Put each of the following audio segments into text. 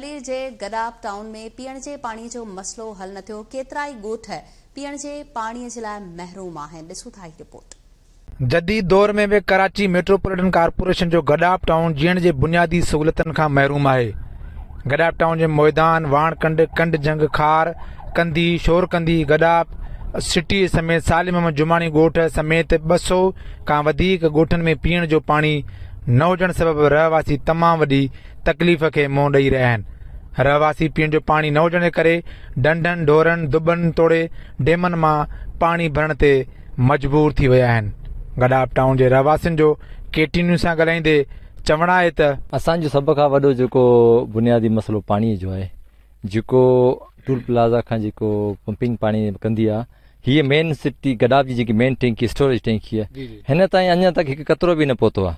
Clear جي Gadap town ۾ پيئڻ جي پاڻي جو مسئلو حل نه ٿيو، ڪيترائي ڳوٺ پيئڻ جي پاڻي جي لاء محروم آهن، ڏسو ٿا هي رپورٽ. جديد دور ۾ به ڪراچي ميٽروپوليٽن ڪارپوريشن جو گڏاپ ٽائون جيئڻ جي بنيادي سهولتن کان محروم آهي. گڏاپ ٽائون جي مئدان، واڻ ڪنڊ، ڪنڊ جهنگ، خار، ڪنڌي، شور ڪنڌي، گڏاپ سٽيء سميت صالح محمد جماڻي ڳوٺ سميت ٻه سؤ کان وڌيڪ ڳوٺن ۾ پيئڻ جو پاڻي نه هجڻ سبب رهواسي تمام وڏي تڪليف کي منهن ڏئي رهيا آهن. رهواسي پيئڻ جو پاڻي نه هجڻ جي ڪري ڍنڍن، ڍورن، دٻن توڙي ڊيمن مان پاڻي ڀرڻ تي مجبور ٿي ويا آهن. گڏاپ ٽائون جي رهواسين جو ڪي ٽي نيوز سان ڳالهائيندي چوڻ آهي ته. اسان جو سڀ کان وڏو جيڪو بنيادي مسئلو پاڻي جو آهي جيڪو ٽول پلازا کان جيڪو پمپنگ پاڻي ڪندي آهي هيء مين سٽي گڏاپ جي جيڪي مين ٽينڪي اسٽوريج ٽينڪي آهي هن تائين اڃا تائين هڪ قطرو به نه پهتو آهي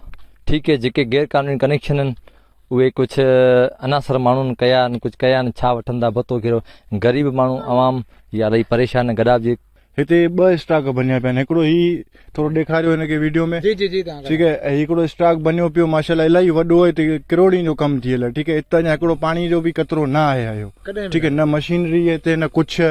ٺيڪ هي جيڪي غير قانوني ڪنيڪشن آهن اهي ڪجهه عناصر ماڻهن ڪيا آهن ڪجهه ڪيا آهن ڇا وٺن ٿا ڀتو ڪهڙو غريب ماڻهو عوام يا الائي پريشان آهن گڏاپ جي هتي ٻه اسٽاڪ بنيا پيا آهن هڪڙو هي ٿورو ڏيکاريو هن کي ويڊيو ۾ جي جي جي ٺيڪ آهي ۽ هڪڙو اسٽاڪ بنيو پيو ماشاءالله الائي وڏو آهي هتي ڪروڙين جو ڪم ٿيل آهي ٺيڪ آهي هتي اڃا هڪڙو پاڻي جو به قطرو نه آهي آيو ٺيڪ آهي نه مشينري هتي نه ڪجهه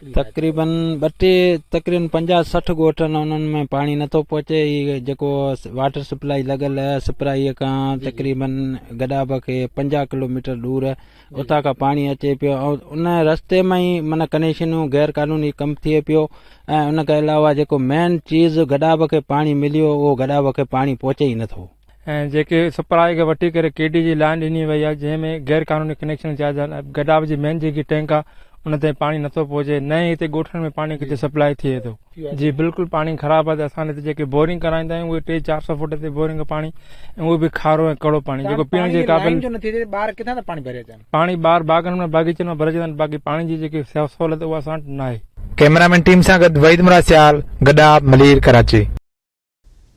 تقريبن ٻه ٽي تقريبن پنجاهه سٺ ڳوٺن انهن ۾ پاڻي نٿو پهچي هي جيڪو واٽر سپلائي لڳل سپرائي کان تقريبن گڏاڀ کي پنجاهه ڪلوميٽر ڏور اتان کان پاڻي اچي پيو ۽ ان رستي ۾ ئي معنی ڪنيڪشنون غير قانوني ڪم ٿئي پيو ۽ ان کان علاوه جيڪو مين چيز گڏاڀ کي پاڻي مليو اهو گڏاڀ کي پاڻي پهچي ئي نٿو ۽ جيڪي سپلاء کي وٺي ڪري ڪي ڊي جي لائين ڏني وئي آهي جنهن ۾ غير قانوني ڪنيڪشن جا گڏاپ جي مين جيڪي ٽينڪ آهي ان تائين پاڻي نٿو پهچي نه ئي هتي ڳوٺن ۾ پاڻي ڪٿي سپلاء ٿئي ٿو جي بلڪل پاڻي خراب آهي اسان هتي جيڪي بورنگ ڪرائيندا آهيون اهي ٽي چار سو فوٽ تي بورنگ پاڻي ۽ اهو به کارو ۽ ڪڙو پاڻي جيڪو پيئڻ جي قابل ٻار ڪٿان ٿا پاڻي ڀري اچن پاڻي ٻار باغن ۾ باغيچن ۾ ڀرجي ٿا باقي پاڻي جي جيڪي سهولت اها اسان وٽ ناهي ڪيمرامين ٽيم سان گڏ وحيد مراد سيال گڏاپ ملير ڪراچي.